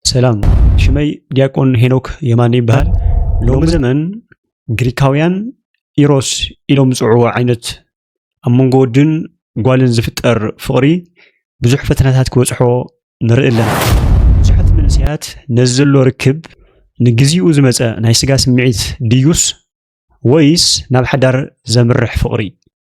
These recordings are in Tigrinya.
ሰላም ሽመይ ዲያቆን ሄኖክ የማነ ይበሃል። ሎሚ ዘመን ግሪካውያን ኢሮስ ኢሎም ዝፅውዕዎ ዓይነት ኣብ መንጎ ወድን ጓልን ዝፍጠር ፍቕሪ ብዙሕ ፈተናታት ክበፅሖ ንርኢ ኣለና። ብዙሓት መንእሰያት ነዚ ዘሎ ርክብ ንግዚኡ ዝመፀ ናይ ስጋ ስምዒት ድዩስ ወይስ ናብ ሓዳር ዘምርሕ ፍቕሪ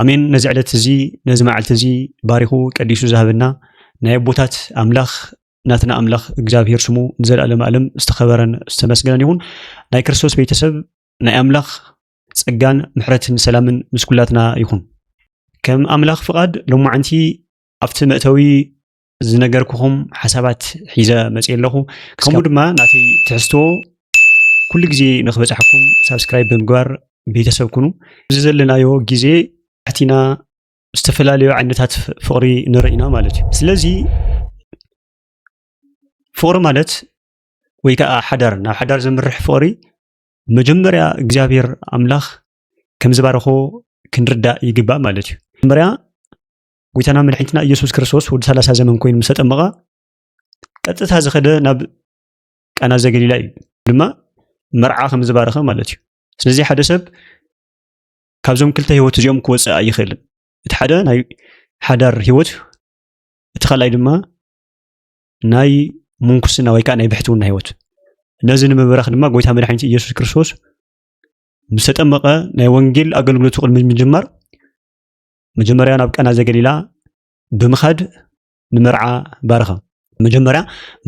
ኣሜን ነዚ ዕለት እዚ ነዚ መዓልቲ እዚ ባሪኹ ቀዲሱ ዝሃበና ናይ ኣቦታት ኣምላኽ ናትና ኣምላኽ እግዚኣብሄር ስሙ ንዘለኣለም ኣለም ዝተኸበረን ዝተመስገነን ይኹን ናይ ክርስቶስ ቤተሰብ ናይ ኣምላኽ ጸጋን ምሕረትን ሰላምን ምስ ኩላትና ይኹን ከም ኣምላኽ ፍቓድ ሎማዓንቲ ኣብቲ መእተዊ ዝነገርኩኹም ሓሳባት ሒዘ መፅእ ኣለኹ ከምኡ ድማ ናተይ ትሕዝቶ ኩሉ ግዜ ንክበፅሐኩም ሳብስክራይብ ብምግባር ቤተሰብ ኩኑ እዚ ዘለናዮ ግዜ ኣሕቲና ዝተፈላለዩ ዓይነታት ፍቅሪ ንርኢ ኢና ማለት እዩ ስለዚ ፍቅሪ ማለት ወይ ከዓ ሓዳር ናብ ሓዳር ዘምርሕ ፍቅሪ መጀመርያ እግዚኣብሔር ኣምላኽ ከምዝባረኮ ክንርዳእ ይግባእ ማለት እዩ መጀመርያ ጎይታና መድሕኒትና ኢየሱስ ክርስቶስ ወዲ ሰላሳ ዘመን ኮይኑ ምስ ተጠመቐ ቀጥታ ዝኸደ ናብ ቃና ዘገሊላ እዩ ድማ መርዓ ከም ዝባረኸ ማለት እዩ ስለዚ ሓደ ሰብ ካብዞም ክልተ ህይወት እዚኦም ክወፅእ ኣይኽእልን እቲ ሓደ ናይ ሓዳር ህይወት እቲ ካልኣይ ድማ ናይ ምንኩስና ወይ ከዓ ናይ ብሕትውና ህይወት ነዚ ንምብራኽ ድማ ጎይታ መድሓኒት ኢየሱስ ክርስቶስ ምስ ተጠመቐ ናይ ወንጌል ኣገልግሎቱ ቅድሚ ምጅማር መጀመርያ ናብ ቀና ዘገሊላ ብምኻድ ንመርዓ ባረኸ መጀመርያ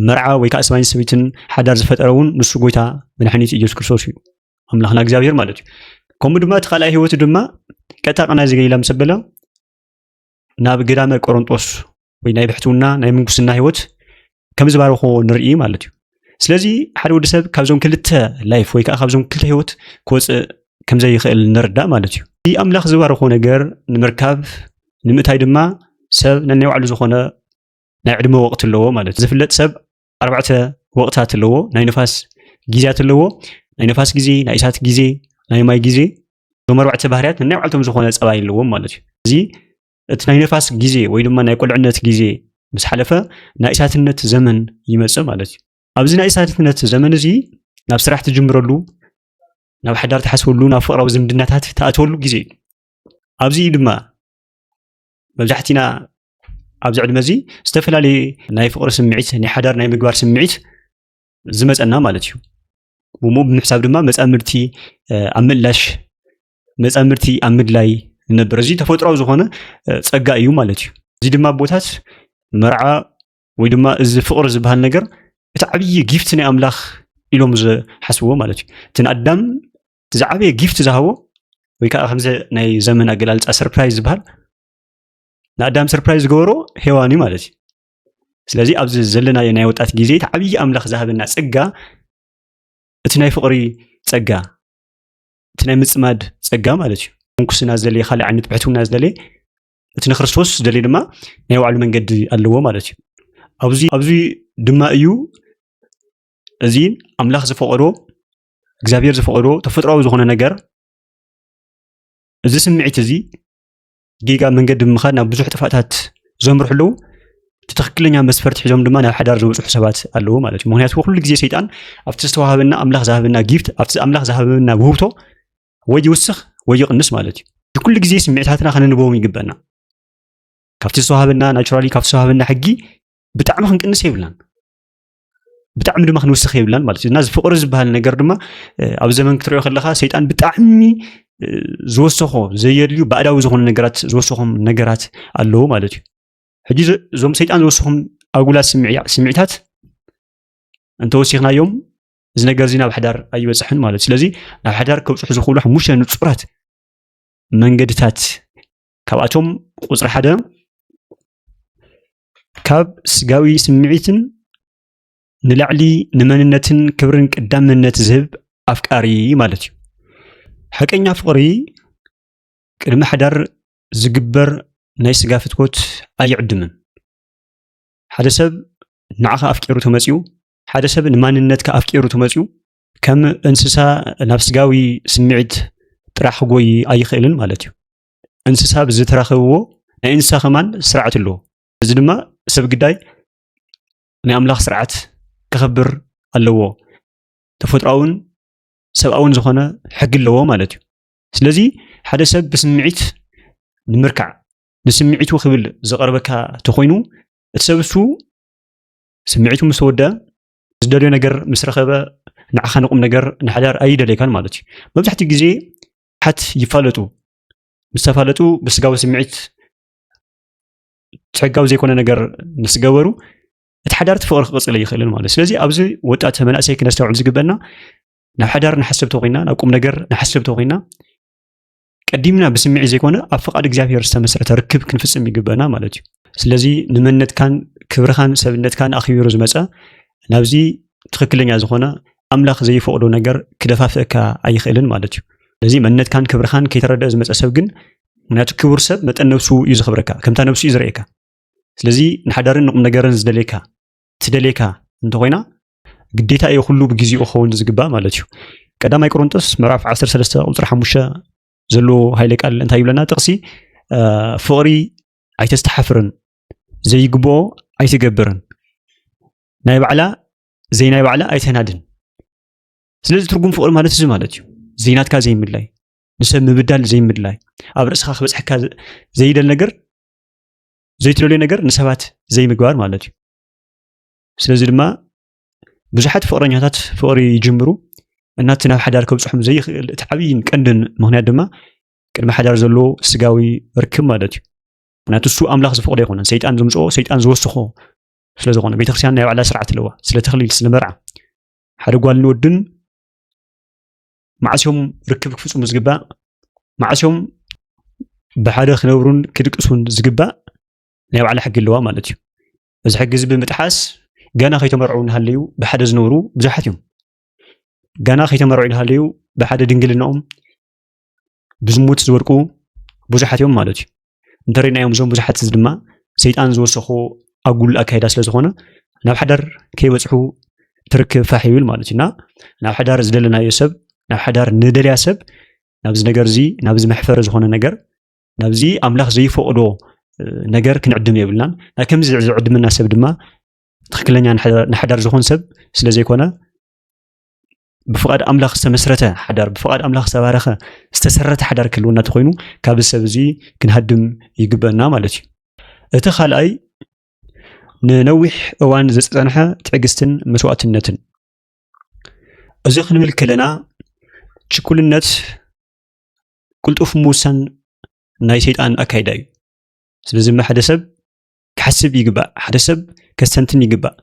መርዓ ወይ ከዓ ሰብኣይን ሰበይትን ሓዳር ዝፈጠረ እውን ንሱ ጎይታ መድሓኒት ኢየሱስ ክርስቶስ እዩ ኣምላኽና እግዚኣብሔር ማለት እዩ ከምኡ ድማ እቲ ካልኣይ ህይወቱ ድማ ቀጥታ ቀና ዘገሊላ ምስ ኣበለ ናብ ገዳመ ቆሮንጦስ ወይ ናይ ብሕትውና ናይ ምንኩስና ሂወት ከም ዝባረኮ ንርኢ ማለት እዩ ስለዚ ሓደ ወዲ ሰብ ካብዞም ክልተ ላይፍ ወይ ከዓ ካብዞም ክልተ ሂወት ክወፅእ ከምዘይኽእል ንርዳእ ማለት እዩ እቲ ኣምላኽ ዝባረኮ ነገር ንምርካብ ንምእታይ ድማ ሰብ ነናይ ባዕሉ ዝኾነ ናይ ዕድመ ወቕቲ ኣለዎ ማለት እዩ ዝፍለጥ ሰብ ኣርባዕተ ወቕታት ኣለዎ ናይ ንፋስ ግዜያት ኣለዎ ናይ ንፋስ ግዜ ናይ እሳት ግዜ ናይ ማይ ግዜ እዞም ኣርባዕተ ባህርያት ነናይ ባዕልቶም ዝኾነ ፀባይ ኣለዎም ማለት እዩ እዚ እቲ ናይ ነፋስ ግዜ ወይ ድማ ናይ ቁልዕነት ግዜ ምስ ሓለፈ ናይ እሳትነት ዘመን ይመጽእ ማለት እዩ ኣብዚ ናይ እሳትነት ዘመን እዚ ናብ ስራሕ ትጅምረሉ ናብ ሓዳር ትሓስበሉ ናብ ፍቅራዊ ዝምድናታት ትኣትወሉ ግዜ እዩ ኣብዚ ድማ መብዛሕትና ኣብዚ ዕድመ እዚ ዝተፈላለየ ናይ ፍቅሪ ስምዒት ናይ ሓዳር ናይ ምግባር ስምዒት ዝመፀና ማለት እዩ ብምኡ ብምሕሳብ ድማ መፃምድቲ ኣብ ምእላሽ መፃምድቲ ኣብ ምድላይ ንነብር። እዚ ተፈጥሯዊ ዝኾነ ፀጋ እዩ ማለት እዩ። እዚ ድማ ኣቦታት መርዓ ወይ ድማ እዚ ፍቕሪ ዝበሃል ነገር እቲ ዓብዪ ጊፍት ናይ ኣምላኽ ኢሎም ዝሓስብዎ ማለት እዩ። እቲ ንኣዳም እቲ ዝዓበየ ጊፍት ዝሃቦ ወይ ከዓ ከምዚ ናይ ዘመን ኣገላልፃ ሰርፕራይዝ ዝበሃል ንኣዳም ሰርፕራይዝ ዝገበሮ ሄዋን እዩ ማለት እዩ። ስለዚ ኣብዚ ዘለናዮ ናይ ወጣት ግዜ እቲ ዓብዪ ኣምላኽ ዝሃበና ፀጋ እቲ ናይ ፍቕሪ ፀጋ እቲ ናይ ምፅማድ ፀጋ ማለት እዩ ምንኩስና ዝደለየ ካልእ ዓይነት ብሕትውና ዝደለየ እቲ ንክርስቶስ ዝደለየ ድማ ናይ ባዕሉ መንገዲ ኣለዎ ማለት እዩ ኣብዚ ኣብዚ ድማ እዩ እዚ ኣምላኽ ዝፈቐዶ እግዚኣብሔር ዝፈቐዶ ተፈጥሯዊ ዝኾነ ነገር እዚ ስምዒት እዚ ጌጋ መንገዲ ብምኻድ ናብ ብዙሕ ጥፋታት ዘምርሑ ኣለዉ እቲ ትክክለኛ መስፈርቲ ሒዞም ድማ ናብ ሓዳር ዝበፅሑ ሰባት ኣለዉ ማለት እዩ ምክንያቱ ኩሉ ግዜ ሰይጣን ኣብቲ ዝተዋሃበና ኣምላኽ ዝሃበና ጊፍት ኣብቲ ኣምላኽ ዝሃበና ውህብቶ ወይ ይውስኽ ወይ ይቕንስ ማለት እዩ ኩሉ ግዜ ስምዒታትና ከነንበቦም ይግበና ካብቲ ዝተዋሃበና ናቹራሊ ካብቲ ዝተዋሃበና ሕጊ ብጣዕሚ ክንቅንስ የብልናን ብጣዕሚ ድማ ክንውስኽ የብላን ማለት እዩ እና እዚ ፍቅሪ ዝበሃል ነገር ድማ ኣብ ዘመን ክትሪኦ ከለካ ሰይጣን ብጣዕሚ ዝወሰኾ ዘየድልዩ ባዕዳዊ ዝኾኑ ነገራት ዝወሰኾም ነገራት ኣለዉ ማለት እዩ ሕጂ እዞም ሰይጣን ዝወሰኹም ኣጉላት ስምዒታት እንተወሲኽናዮም እዚ ነገር እዚ ናብ ሓዳር ኣይበፅሕን ማለት እዩ ስለዚ ናብ ሓዳር ከብፅሑ ዝኽእሉ ሓሙሽተ ንፁራት መንገድታት ካብኣቶም ቁፅሪ ሓደ ካብ ስጋዊ ስምዒትን ንላዕሊ ንመንነትን ክብርን ቀዳምነት ዝህብ ኣፍቃሪ ማለት እዩ። ሓቀኛ ፍቕሪ ቅድሚ ሓዳር ዝግበር ናይ ስጋ ፍትወት ኣይዕድምን። ሓደ ሰብ ንዓኻ ኣፍቂሩ ተመፅኡ፣ ሓደ ሰብ ንማንነትካ ኣፍቂሩ ተመፅኡ ከም እንስሳ ናብ ስጋዊ ስምዒት ጥራሕ ክጎይ ኣይኽእልን ማለት እዩ። እንስሳ ብዝተረኸብዎ ናይ እንስሳ ከማን ስርዓት ኣለዎ። እዚ ድማ ሰብ ግዳይ ናይ ኣምላኽ ስርዓት ከኸብር ኣለዎ። ተፈጥሮኣውን ሰብኣውን ዝኾነ ሕጊ ኣለዎ ማለት እዩ። ስለዚ ሓደ ሰብ ብስምዒት ንምርካዕ ንስምዒቱ ክብል ዝቐርበካ ተኾይኑ እቲ ሰብ እሱ ስምዒቱ ምስ ተወድአ ዝደልዮ ነገር ምስ ረኸበ ንዓኻ ንቁም ነገር ንሓዳር ኣይደልየካን ማለት እዩ። መብዛሕትኡ ግዜ ሓት ይፋለጡ ምስ ተፋለጡ ብስጋዊ ስምዒት ሕጋዊ ዘይኮነ ነገር ምስ ገበሩ እቲ ሓዳር እቲ ፍቕሪ ክቕፅል ኣይኽእልን ማለት እዩ ስለዚ ኣብዚ ወጣት መናእሰይ ክነስተውዕል ዝግበና ናብ ሓዳር ንሓስብ ተኮይና ናብ ቁም ነገር ንሓስብ ተኮይና ቀዲምና ብስምዒት ዘይኮነ ኣብ ፍቓድ እግዚኣብሄር ዝተመስረተ ርክብ ክንፍፅም ይግበና ማለት እዩ ስለዚ ንመነትካን ክብርኻን ሰብነትካን ኣኽቢሩ ዝመፀ ናብዚ ትኽክለኛ ዝኾነ ኣምላኽ ዘይፈቕዶ ነገር ክደፋፍእካ ኣይኽእልን ማለት እዩ። ነዚ መንነትካን ክብርኻን ከይተረድአ ዝመፀ ሰብ ግን ምክንያቱ ክቡር ሰብ መጠን ነብሱ እዩ ዝኽብረካ ከምታ ነብሱ እዩ ዝርእየካ ስለዚ ንሓዳርን ንቁም ነገርን ዝደልየካ ትደልየካ እንተኾይና ግዴታ እዩ ኩሉ ብግዜኡ ክኸውን ዝግባእ ማለት እዩ ቀዳማይ ቆሮንጦስ ምዕራፍ 13 ቁፅሪ 5 ዘለዎ ሃይለ ቃል እንታይ ይብለና ጥቕሲ ፍቕሪ ኣይተስተሓፍርን ዘይግብኦ ኣይትገብርን ናይ ባዕላ ዘይናይ ባዕላ ኣይተናድን ስለዚ ትርጉም ፍቅሪ ማለት እዚ ማለት እዩ ዘይናትካ ዘይምድላይ ንሰብ ምብዳል ዘይምድላይ ኣብ ርእስኻ ክበፅሐካ ዘይደል ነገር ዘይትደልዮ ነገር ንሰባት ዘይምግባር ማለት እዩ ስለዚ ድማ ብዙሓት ፍቅረኛታት ፍቅሪ ይጅምሩ እናቲ ናብ ሓዳር ከብፅሖም ዘይኽእል እቲ ዓብይን ቀንድን ምክንያት ድማ ቅድሚ ሓዳር ዘሎ ስጋዊ ርክብ ማለት እዩ ምክንያቱ እሱ ኣምላኽ ዝፈቅዶ ኣይኮነን ሰይጣን ዝምፅኦ ሰይጣን ዝወስኾ ስለ ዝኾነ ቤተክርስትያን ናይ ባዕላ ስርዓት ኣለዋ ስለ ተኽሊል ስለ መርዓ ሓደ ጓል ንወድን ማዕስዮም ርክብ ክፍፅሙ ዝግባእ ማዕስዮም ብሓደ ክነብሩን ክድቅሱን ዝግባእ ናይ ባዕላ ሕጊ ኣለዋ ማለት እዩ እዚ ሕጊ እዚ ብምጥሓስ ገና ከይተመርዑ እናሃለዩ ብሓደ ዝነብሩ ብዙሓት እዮም ገና ከይተመርዑ እናሃለዩ ብሓደ ድንግልናኦም ብዝሙት ዝወድቁ ብዙሓት እዮም ማለት እዩ እንተሪእናዮም እዞም ብዙሓት እዚ ድማ ሰይጣን ዝወሰኮ ኣጉል ኣካይዳ ስለ ዝኾነ ናብ ሓዳር ከይበፅሑ ትርክብ ፋሕ ይብል ማለት እዩ እና ናብ ሓዳር ዝደለናዮ ሰብ ናብ ሓዳር ንደልያ ሰብ ናብዚ ነገር እዚ ናብዚ መሕፈሪ ዝኾነ ነገር ናብዚ ኣምላኽ ዘይፈቕዶ ነገር ክንዕድም የብልናን ናይ ከምዚ ዝዕድመና ሰብ ድማ ትክክለኛ ንሓዳር ዝኾን ሰብ ስለ ዘይኮነ ብፍቓድ ኣምላኽ ዝተመስረተ ሓዳር ብፍቓድ ኣምላኽ ዝተባረኸ ዝተሰረተ ሓዳር ክህልወና እንተኮይኑ ካብ ሰብ እዚ ክንሃድም ይግበና ማለት እዩ እቲ ካልኣይ ንነዊሕ እዋን ዝፀንሐ ትዕግስትን መስዋእትነትን እዚ ክንብል ከለና ችኩልነት ቅልጡፍ ምውሳን ናይ ሰይጣን ኣካይዳ እዩ ስለዚ ድማ ሓደ ሰብ ክሓስብ ይግባእ ሓደ ሰብ ከስተንትን ይግባእ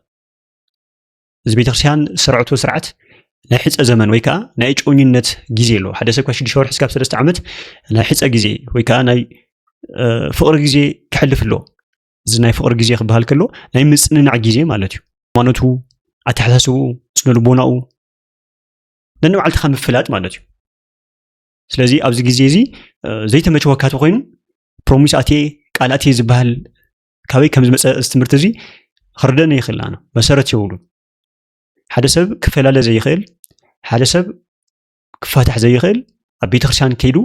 እዚ ቤተክርስትያን ስርዕቱ ስርዓት ናይ ሕፀ ዘመን ወይ ከዓ ናይ ጮኝነት ግዜ ኣሎ ሓደ ሰብ ካብ ሽዱሽተ ወርሒ ስካብ ሰለስተ ዓመት ናይ ሕፀ ግዜ ወይ ከዓ ናይ ፍቕሪ ግዜ ክሕልፍ ኣለዎ እዚ ናይ ፍቕሪ ግዜ ክበሃል ከሎ ናይ ምፅንናዕ ግዜ ማለት እዩ ሃይማኖቱ ኣተሓሳስብኡ ስነ ልቦናኡ ነንባዕልትኻ ምፍላጥ ማለት እዩ ስለዚ ኣብዚ ግዜ እዚ ዘይተመቸወካ ተኮይኑ ፕሮሚስ ኣቴ ቃል ኣቴ ዝበሃል ካበይ ከም ዝመፀ እዚ ትምህርቲ እዚ ክርደነ ይኽእል ኣነ መሰረት የብሉን ሓደ ሰብ ክፈላለ ዘይኽእል ሓደ ሰብ ክፋታሕ ዘይኽእል ኣብ ቤተክርስትያን ከይዱ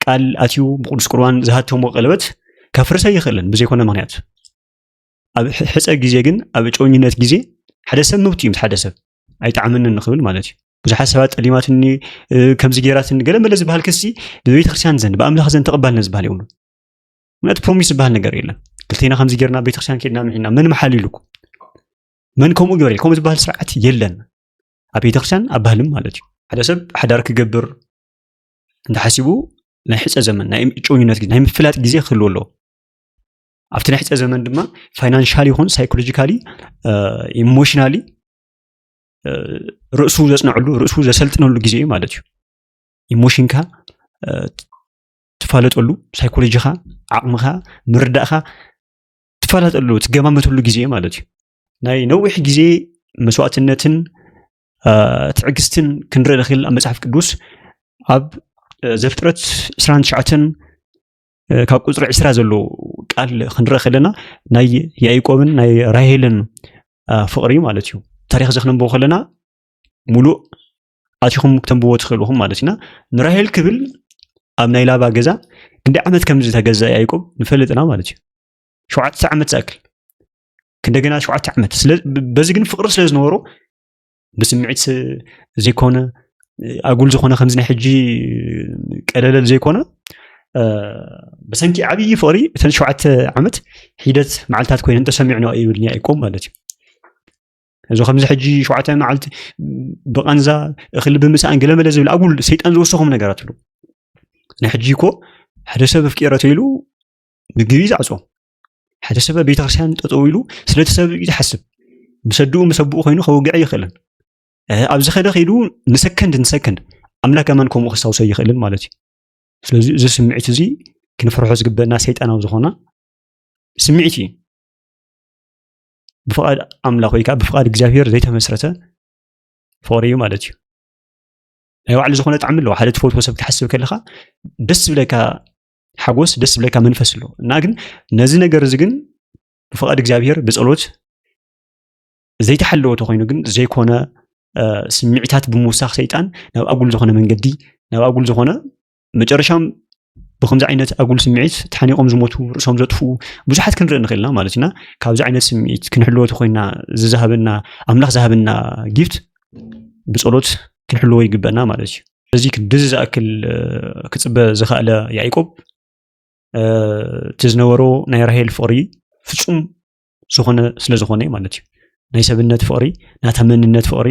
ቃል ኣትዩ ብቅዱስ ቁርባን ዝሃተሞ ቀለበት ከፍርሰ ይኽእልን ብዘይኮነ ምክንያት ኣብ ሕፀ ግዜ ግን ኣብ ጮኝነት ግዜ ሓደ ሰብ መብት እዩ ምስ ሓደ ሰብ ኣይጣዕምን ንክብል ማለት እዩ ብዙሓት ሰባት ጠሊማትኒ ከምዚ ገይራትኒ ገለ መለ ዝበሃል ክሲ ብቤተክርስትያን ዘንድ ብኣምላኽ ዘንድ ተቐባልነት ዝበሃል የብሉ ምክንያቱ ፕሮሚስ ዝበሃል ነገር የለን ክልቴና ከምዚ ጌርና ቤተክርስትያን ኬድና ምሒና መን መሓል ኢሉኩም መን ከምኡ ግበር ከምኡ ዝበሃል ስርዓት የለን ኣብ ቤተክርስትያን ኣብ ባህልም ማለት እዩ ሓደ ሰብ ሓዳር ክገብር እንተሓሲቡ ናይ ሕፀ ዘመን ናይ እጮኝነት ግዜ ናይ ምፍላጥ ግዜ ክህልዎ ኣለዎ ኣብቲ ናይ ሕፀ ዘመን ድማ ፋይናንሻሊ ይኹን ሳይኮሎጂካሊ ኢሞሽናሊ ርእሱ ዘፅናዕሉ ርእሱ ዘሰልጥነሉ ግዜ እዩ ማለት እዩ ኢሞሽንካ ትፋለጠሉ ሳይኮሎጂኻ ዓቕምኻ ምርዳእኻ ትፋለጠሉ ትገማመተሉ ግዜ ማለት እዩ ናይ ነዊሕ ግዜ መስዋእትነትን ትዕግስትን ክንርኢ ንኽእል ኣብ መፅሓፍ ቅዱስ ኣብ ዘፍጥረት 29 ካብ ቁፅሪ ዕስራ ዘሎ ቃል ክንረአ ከለና ናይ ያይቆብን ናይ ራሄልን ፍቕሪ ማለት እዩ ታሪክ እዚ ክነንብቦ ከለና ሙሉእ ኣቲኹም ክተንብዎ ትኽእሉ ኢኹም ማለት ኢና ንራሄል ክብል ኣብ ናይ ላባ ገዛ ክንደይ ዓመት ከም ዝተገዛ ያይቆብ ንፈልጥና ማለት እዩ ሸውዓተ ዓመት ዝኣክል እንደገና ሸውዓተ ዓመት በዚ ግን ፍቅሪ ስለ ዝነበሮ ብስምዒት ዘይኮነ ኣጉል ዝኾነ ከምዚ ናይ ሕጂ ቀለለል ዘይኮነ ብሰንኪ ዓብዪ ፍቅሪ እተን ሸውዓተ ዓመት ሒደት መዓልትታት ኮይነን ተሰሚዕኖ ይብልኒ ኣይቆም ማለት እዩ እዚ ከምዚ ሕጂ ሸውዓተ መዓልቲ ብቐንዛ እኽሊ ብምስኣን ገለመለ ዝብል ኣጉል ሰይጣን ዝወሰኹም ነገራት ኣሎ ናይ ሕጂ እኮ ሓደ ሰብ ኣፍቂረ ተይሉ ምግቢ ይዛዕፆ ሓደ ሰብ ቤተክርስትያን ጠጠው ኢሉ ስለቲ ሰብ እዩ ዝሓስብ ምሰድኡ ምሰብኡ ኮይኑ ከወግዐ ይኽእልን ኣብዚ ኸደ ከይዱ ንሰከንድ ንሰከንድ ኣምላክ ኣማን ከምኡ ክሳውሰ ይኽእልን ማለት እዩ ስለዚ እዚ ስምዒት እዚ ክንፈርሖ ዝግበና ሰይጣናዊ ዝኾና ስምዒት እዩ ብፍቓድ ኣምላኽ ወይ ከዓ ብፍቓድ እግዚኣብሄር ዘይተመስረተ ፍቕሪ እዩ ማለት እዩ ናይ ባዕሉ ዝኾነ ጣዕሚ ኣለዎ ሓደ ትፈትዎ ሰብ ክትሓስብ ከለካ ደስ ዝብለካ ሓጎስ ደስ ዝብለካ መንፈስ ኣለዎ እና ግን ነዚ ነገር እዚ ግን ብፍቓድ እግዚኣብሄር ብፀሎት ዘይተሓለወ ተኮይኑ ግን ዘይኮነ ስምዒታት ብምውሳኽ ሰይጣን ናብ ኣጉል ዝኾነ መንገዲ ናብ ኣጉል ዝኾነ መጨረሻም ብከምዚ ዓይነት ኣጉል ስምዒት ተሓኒቆም ዝሞቱ ርእሶም ዘጥፍኡ ብዙሓት ክንርኢ ንኽእል ኢና ማለት ኢና ካብዚ ዓይነት ስምዒት ክንሕልወ ተኮይና ዝዝሃበና ኣምላኽ ዝሃበና ጊፍት ብፀሎት ክንሕልዎ ይግበና ማለት እዩ እዚ ክድዚ ዝኣክል ክፅበ ዝኸእለ ያዕቆብ እቲ ዝነበሮ ናይ ራሄል ፍቕሪ ፍፁም ዝኾነ ስለ ዝኾነ እዩ ማለት እዩ ናይ ሰብነት ፍቕሪ ናታ መንነት ፍቕሪ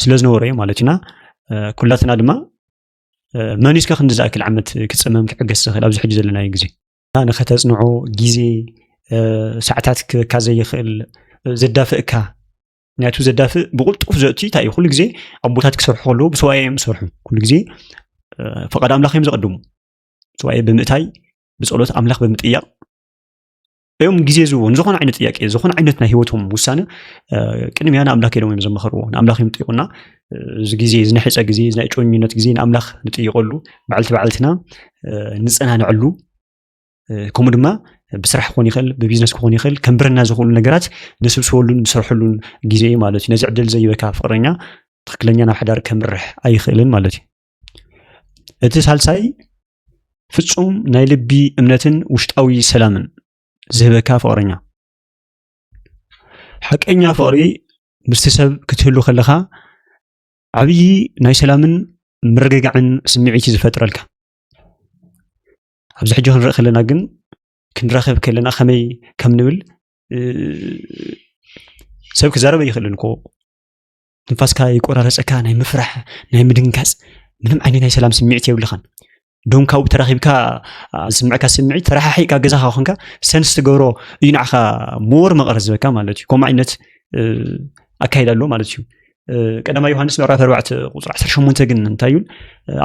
ስለ ዝነበሮ እዩ ማለት እዩና ኩላትና ድማ መን እስከ ክንዲ ዝኣክል ዓመት ክፀመም ክዕገስ ዝኽእል ኣብዚ ሕጂ ዘለናዮ ግዜ ንኸተፅንዖ ግዜ ሰዓታት ክበካ ዘይኽእል ዘዳፍእካ ምክንያቱ ዘዳፍእ ብቁልጡፍ ዘእቲ እንታይ እዩ ኩሉ ግዜ ኣቦታት ክሰርሑ ከለዉ ብሰዋየ እዮም ዝሰርሑ ኩሉ ግዜ ፈቃድ ኣምላኽ እዮም ዘቐድሙ ሰዋየ ብምእታይ ብፀሎት ኣምላኽ ብምጥያቕ እዮም ግዜ ዝህቦ ንዝኾነ ዓይነት ጥያቄ ዝኾነ ዓይነት ናይ ሂወቶም ውሳነ ቅድሚያ ንኣምላክ ኢሎም እዮም ዘመኸርዎ ንኣምላኽ እዮም ጥይቁና እዚ ግዜ እዚ ናይ ሕፀ ግዜ እዚ ናይ ጮኝነት ግዜ ንኣምላኽ ንጥይቀሉ በዓልቲ በዓልትና ንፀናንዐሉ ከምኡ ድማ ብስራሕ ክኾን ይኽእል ብቢዝነስ ክኾን ይኽእል ከንብረና ዝኽእሉ ነገራት ንስብስበሉን ንሰርሐሉን ግዜ እዩ ማለት እዩ ነዚ ዕድል ዘይበካ ፍቅረኛ ትክክለኛ ናብ ሓዳር ከምርሕ ኣይኽእልን ማለት እዩ እቲ ሳልሳይ ፍጹም ናይ ልቢ እምነትን ውሽጣዊ ሰላምን ዝህበካ ፍቕረኛ። ሓቀኛ ፍቕሪ ምስቲ ሰብ ክትህሉ ከለኻ ዓብዪ ናይ ሰላምን ምርግጋዕን ስምዒት እዩ ዝፈጥረልካ። ኣብዚ ሕጂ ክንርኢ ከለና ግን ክንራኸብ ከለና ከመይ ከም ንብል ሰብ ክዛረበ ይኽእልን እኮ ትንፋስካ ይቆራረፀካ ናይ ምፍራሕ ናይ ምድንጋፅ ምንም ዓይነት ናይ ሰላም ስምዒት የብልኻን ዶም ካብኡ ተራኺብካ ዝስምዐካ ስምዒት ተረሓሒእካ ገዛኻ ኮንካ ሰንስ ትገብሮ እዩ ንዓኻ ሞር መቐረ ዝበካ ማለት እዩ ከምኡ ዓይነት ኣካይዳ ኣሎ ማለት እዩ ቀዳማ ዮሃንስ ምዕራፍ ኣርባዕተ ቁፅሪ ዓሰርተ ሸሞንተ ግን እንታይ እዩን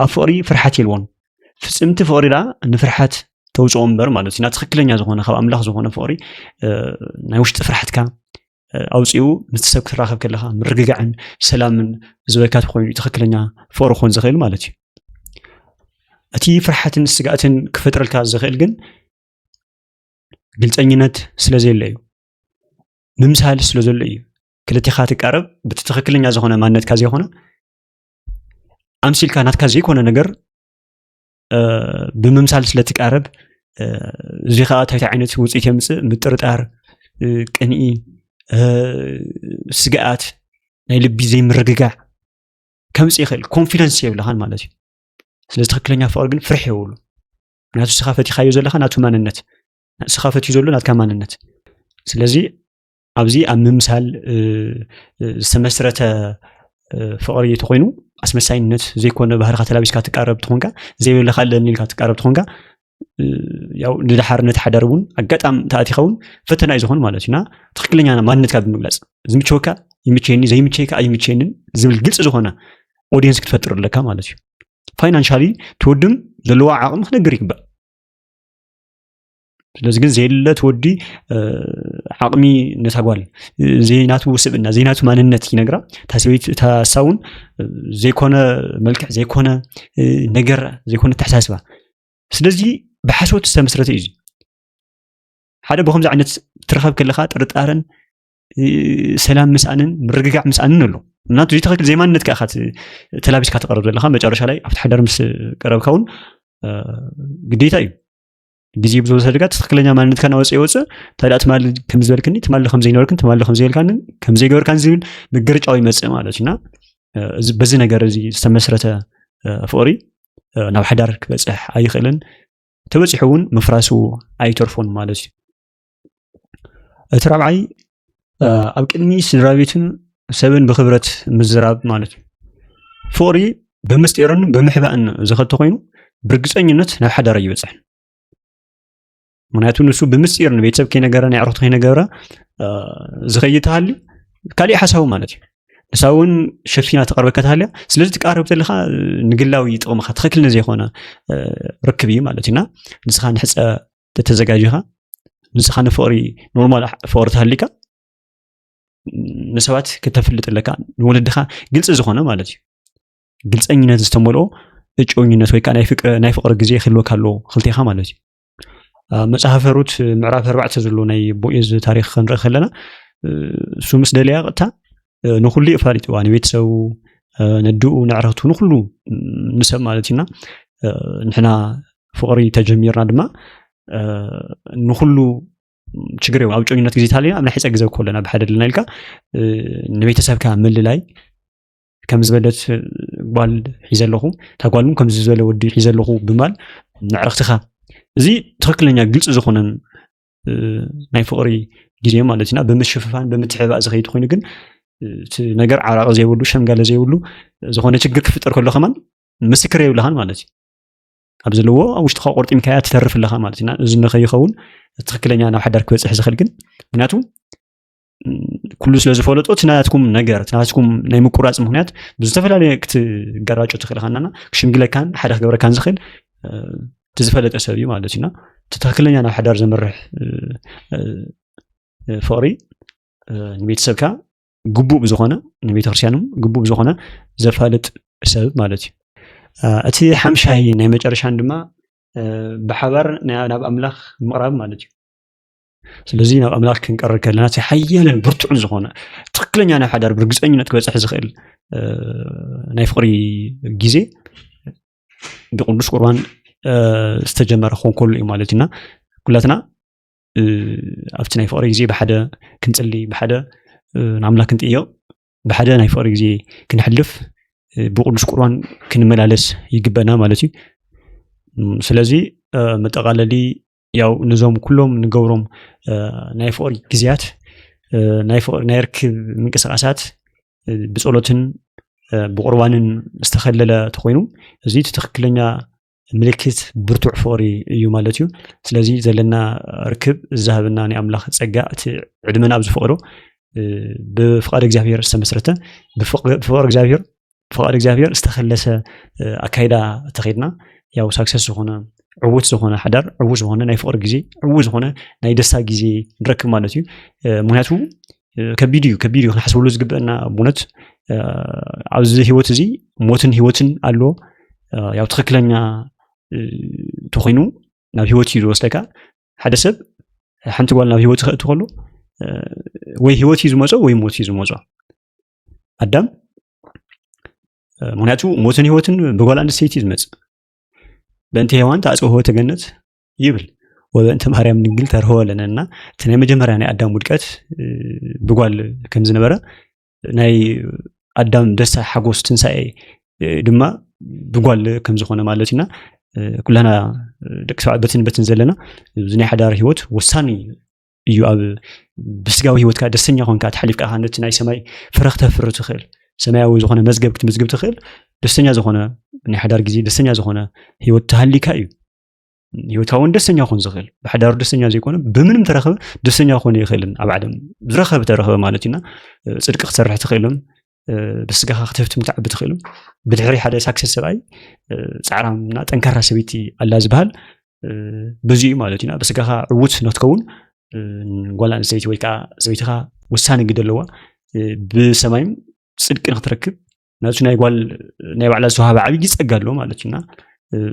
ኣብ ፍቕሪ ፍርሓት የልዎን ፍፅምቲ ፍቕሪ ዳ ንፍርሓት ተውፅኦ እምበር ማለት እዩ ናብ ትክክለኛ ዝኾነ ካብ ኣምላኽ ዝኾነ ፍቕሪ ናይ ውሽጢ ፍርሓትካ ኣውፅኡ ምስ ሰብ ክትራኸብ ከለካ ምርግጋዕን ሰላምን ዝበካ ኮይኑ ትክክለኛ ፍቅሪ ክኾን ዝኽእል ማለት እዩ እቲ ፍርሓትን ስጋእትን ክፈጥረልካ ዝኽእል ግን ግልፀኝነት ስለ ዘየለ እዩ ምምሳል ስለ ዘሎ እዩ ክልቲኻ ትቃረብ በቲ ትክክለኛ ዝኾነ ማንነትካ ዘይኮነ ኣምሲልካ ናትካ ዘይኮነ ነገር ብምምሳል ስለትቃረብ እዚ ከዓ እንታይ ዓይነት ውፅኢት የምፅእ ምጥርጣር ቅንኢ ስግኣት ናይ ልቢ ዘይምርግጋዕ ከምፅ ይኽእል ኮንፊደንስ የብልኻን ማለት እዩ ስለዚ ትክክለኛ ፍቅሪ ግን ፍርሒ የብሉ ምክንያቱ ስኻ ፈቲኻዮ ዘለካ ናቱ ማንነት ስኻ ፈትዩ ዘሎ ናትካ ማንነት ስለዚ ኣብዚ ኣብ ምምሳል ዝተመስረተ ፍቕሪ እንተኮይኑ ኣስመሳይነት ዘይኮነ ባህርካ ተላቢስካ ትቃረብ ትኾንካ ዘይብልካ ኣለኒ ኢልካ ትቃረብ ትኾንካ ያው ንድሓር ነቲ ሓዳር እውን ኣጋጣሚ ተኣቲኻ እውን ፈተና እዩ ዝኾኑ ማለት እዩና ትክክለኛ ማንነትካ ብምግላፅ ዝምቸወካ ይምቸየኒ ዘይምቸይካ ኣይምቸየንን ዝብል ግልፂ ዝኾነ ኦዲየንስ ክትፈጥር ኣለካ ማለት እዩ ፋይናንሻሊ ትወድም ዘለዋ ዓቕሚ ክነግር ይግባእ ስለዚ ግን ዘየለት ወዲ ዓቕሚ ነታ ጓል ዘይናቱ ስብእና ዘይናቱ ማንነት ይነግራ እታ ሰበይቲ እታ ሳውን ዘይኮነ መልክዕ ዘይኮነ ነገር ዘይኮነ ተሓሳስባ ስለዚ ብሓሶት ዝተመስረተ እዩ ሓደ ብከምዚ ዓይነት ትረኸብ ከለካ ጥርጣረን ሰላም ምስኣንን ምርግጋዕ ምስኣንን ኣሎ ምክንያቱ ዘይትክክል ዘይማንነት ከ ተላቢስካ ተቀርብ ዘለካ መጨረሻ ላይ ኣብቲ ሓዳር ምስ ቀረብካ እውን ግዴታ እዩ ግዜ ብዝወሰድካ ትክክለኛ ማንነትካ ናወፀ ይወፅእ እንታይ ደኣ ትማሊ ከም ዝበልክኒ ትማሊ ከም ዘይነበርክን ትማሊ ከም ዘይልካንን ከም ዘይገበርካን ዝብል ምግርጫው ይመፅእ ማለት እዩ እና እዚ በዚ ነገር እዚ ዝተመስረተ እ፣ ፍቕሪ እ፣ ናብ ሓዳር ክበፅሕ ኣይኽእልን ተበፂሑ እውን ምፍራሱ ኣይተርፎን ማለት እዩ እቲ ራብዓይ ኣብ ቅድሚ ስድራ ቤትን ሰብን ብክብረት ምዝራብ ማለት እዩ ፍቕሪ ብምስጢርን ብምሕባእን ዝኸተ ኮይኑ ብርግፀኝነት ናብ ሓዳር ኣይበፅሕን ምክንያቱ ንሱ ብምስጢር ንቤተሰብ ከይነገረ ናይ ዕረፍቲ ከይነገረ ዝኸይድ ተሃሊ ካሊእ ሓሳቡ ማለት እዩ ንሳ እውን ሸፊና ተቐርበካ ተሃልያ ስለዚ ትቃረብ ተለካ ንግላዊ ጥቕምካ ትኽክል ንዘይኮነ ርክብ እዩ ማለት እዩና ንስኻ ንሕፀ ተተዘጋጅኻ ንስኻ ንፍቕሪ ኖርማል ፍቕሪ ተሃሊካ ንሰባት ክተፍልጥ ኣለካ ንወለድኻ ግልፂ ዝኾነ ማለት እዩ ግልፀኝነት ዝተመልኦ እጮኝነት ወይ ከዓ ናይ ፍቕሪ ግዜ ክህልወካ ኣለዎ ክልቴኻ ማለት እዩ መፅሓፈ ሩት ምዕራፍ ኣርባዕተ ዘሎ ናይ ቦኤዝ ታሪክ ክንርኢ ከለና እሱ ምስ ደለያ ቅጥታ ንኩሉ እዩ ኣፋሊጥዋ ንቤተሰቡ ነድኡ ንዕረቱ ንኩሉ ንሰብ ማለት እዩና ንሕና ፍቅሪ ተጀሚርና ድማ ንኩሉ ችግር እዮም ኣብ ጮኝነት ግዜ ተሃሊና ኣብ ናይ ሕፀ ግዘ ኮለና ብሓደ ኣለና ኢልካ ንቤተሰብካ ምልላይ ከም ዝበለት ጓል ሒዘ ኣለኹ እታ ጓል እውን ከምዚ ዝበለ ወዲ ሒዘ ኣለኹ ብማል ንዕረክትኻ እዚ ትክክለኛ ግልፂ ዝኾነን ናይ ፍቕሪ ግዜ ማለት ኢና ብምሽፍፋን ብምትሕባእ ዝኸይድ ኮይኑ ግን እቲ ነገር ዓራቂ ዘይብሉ ሸምጋለ ዘይብሉ ዝኾነ ችግር ክፍጠር ከሎ ከማን ምስክር የብልኻን ማለት እዩ ኣብ ዘለዎ ኣብ ውሽጥካ ቆርጢምካያ ትተርፍ ኣለካ ማለት እዩ እዚ ንከይኸውን ትክክለኛ ናብ ሓዳር ክበፅሕ ዝኽእል ግን ምክንያቱ ኩሉ ስለ ዝፈለጦ እቲ ናትኩም ነገር እቲ ናትኩም ናይ ምቁራፅ ምክንያት ብዝተፈላለየ ክትገራጮ ትኽእል ካናና ክሽምግለካን ሓደ ክገብረካን ዝኽእል እቲ ዝፈለጠ ሰብ እዩ ማለት እዩና እቲ ትክክለኛ ናብ ሓዳር ዘምርሕ ፍቕሪ ንቤተሰብካ ግቡእ ብዝኾነ ንቤተክርስትያንም ግቡእ ብዝኾነ ዘፋልጥ ሰብ ማለት እዩ እቲ ሓምሻይ ናይ መጨረሻን ድማ ብሓባር ናብ ኣምላኽ ምቕራብ ማለት እዩ ስለዚ ናብ ኣምላኽ ክንቀርብ ከለና እቲ ሓያልን ብርቱዕን ዝኾነ ትክክለኛ ናይ ሓዳር ብርግፀኝነት ክበፅሕ ዝኽእል ናይ ፍቕሪ ግዜ ብቅዱስ ቁርባን ዝተጀመረ ክኾን ከሉ እዩ ማለት እዩና ኩላትና ኣብቲ ናይ ፍቕሪ ግዜ ብሓደ ክንፅሊ ብሓደ ንኣምላክ ክንጥየቕ ብሓደ ናይ ፍቕሪ ግዜ ክንሕልፍ ብቅዱስ ቁርባን ክንመላለስ ይግበና ማለት እዩ ስለዚ መጠቃለሊ ያው ነዞም ኩሎም ንገብሮም ናይ ፍቕሪ ግዜያት ናይ ፍቕሪ ናይ ርክብ ምንቅስቓሳት ብጸሎትን ብቑርባንን ዝተኸለለ ተኾይኑ እዚ እቲ ትኽክለኛ ምልክት ብርቱዕ ፍቕሪ እዩ ማለት እዩ ስለዚ ዘለና ርክብ ዝሃበና ናይ ኣምላኽ ጸጋ እቲ ዕድመና ኣብ ዝፈቕዶ ብፍቓድ እግዚኣብሔር ዝተመስረተ ብፍቕሪ እግዚኣብሔር ብፍቃድ እግዚኣብሔር ዝተከለሰ ኣካይዳ ተከድና ያው ሳክሰስ ዝኮነ ዕዉት ዝኮነ ሓዳር ዕዉት ዝኮነ ናይ ፍቅሪ ግዜ ዕዉት ዝኮነ ናይ ደስታ ግዜ ንረክብ ማለት እዩ ምክንያቱ ከቢድ እዩ ከቢድ እዩ ክንሓስበሉ ዝግበአና ብእውነት ኣብዚ ህይወት እዚ ሞትን ህይወትን ኣሎ ያው ትክክለኛ ተኮይኑ ናብ ህይወት እዩ ዝወስደካ ሓደ ሰብ ሓንቲ ጓል ናብ ህይወት ክእቲ ከሎ ወይ ህይወት እዩ ዝመፆ ወይ ሞት እዩ ዝመፆ ኣዳም ምክንያቱ ሞትን ህይወትን ብጓል ኣንስተይቲ እዩ ዝመፅእ በእንቲ ሄዋን ተኣፅወ ህወተ ገነት ይብል ወበእንቲ ማርያም ድንግል ተርህወ ኣለነ እና እቲ ናይ መጀመርያ ናይ ኣዳም ውድቀት ብጓል ከም ዝነበረ ናይ ኣዳም ደስታ ሓጎስ ትንሳኤ ድማ ብጓል ከም ዝኾነ ማለት ኢና ኩላና ደቂ ሰባት በትን በትን ዘለና እዚ ናይ ሓዳር ሂወት ወሳኒ እዩ ኣብ ብስጋዊ ሂወትካ ደስተኛ ኮንካ ተሓሊፍካ ኢኻ ነቲ ናይ ሰማይ ፍረ ክተፍሪ ትኽእል ሰማያዊ ዝኾነ መዝገብ ክትምዝግብ ትኽእል ደስተኛ ዝኾነ ናይ ሓዳር ግዜ ደስተኛ ዝኾነ ሂወት ተሃሊካ እዩ ሂወትካ እውን ደስተኛ ክኾን ዝኽእል ብሓዳሩ ደስተኛ ዘይኮነ ብምንም ተረኸበ ደስተኛ ክኾን ይኽእልን ኣብ ዓለም ዝረኸበ ተረኸበ ማለት እዩና ፅድቂ ክትሰርሕ ትኽእልን ብስጋኻ ክትህብትም ትዓቢ ትኽእሉ ብድሕሪ ሓደ ሳክሰስ ሰብኣይ ፃዕራምና ጠንካራ ሰበይቲ ኣላ ዝበሃል ብዙ እዩ ማለት እዩና ብስጋኻ ዕዉት ነትከውን ጓል ኣንስተይቲ ወይ ከዓ ሰበይትኻ ውሳነ ግደ ኣለዋ ብሰማይም ፅድቂ ንክትረክብ ነቲ ናይ ጓል ናይ ባዕላ ዝተዋሃበ ዓብዪ ፀጋ ኣሎ ማለት እዩና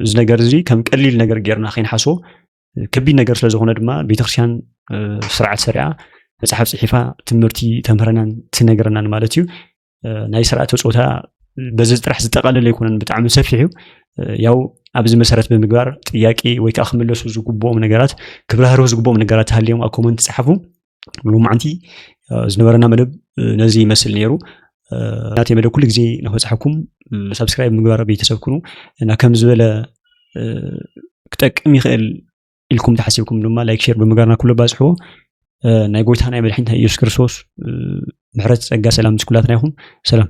እዚ ነገር እዚ ከም ቀሊል ነገር ጌርና ከይንሓስቦ ከቢድ ነገር ስለ ዝኾነ ድማ ቤተክርስትያን ስርዓት ሰሪዓ መፅሓፍ ፅሒፋ ትምህርቲ ተምህረናን ትነግረናን ማለት እዩ ናይ ስርዓተ ፆታ በዚ ጥራሕ ዝጠቃለለ ኣይኮነን ብጣዕሚ ሰፊሕ እዩ ያው ኣብዚ መሰረት ብምግባር ጥያቄ ወይ ከዓ ክምለሱ ዝግብኦም ነገራት ክብራህርሁ ዝግብኦም ነገራት ሃልዮም ኣብ ኮመንት ፀሓፉ ሎማዕንቲ ዝነበረና መደብ ነዚ ይመስል ነይሩ ናተይ መደብ ኩሉ ግዜ ንክበፅሐኩም ሰብስክራይብ ምግባር ቤተሰብ ኩኑ እና ከም ዝበለ ክጠቅም ይኽእል ኢልኩም ተሓሲብኩም ድማ ላይክ ሼር ብምጋርና ኩሉ ባፅሕዎ ናይ ጎይታ ናይ መድሕኒት ናይ ኢየሱስ ክርስቶስ ምሕረት ፀጋ ሰላም ምስ ኩላትና ይኹን ሰላም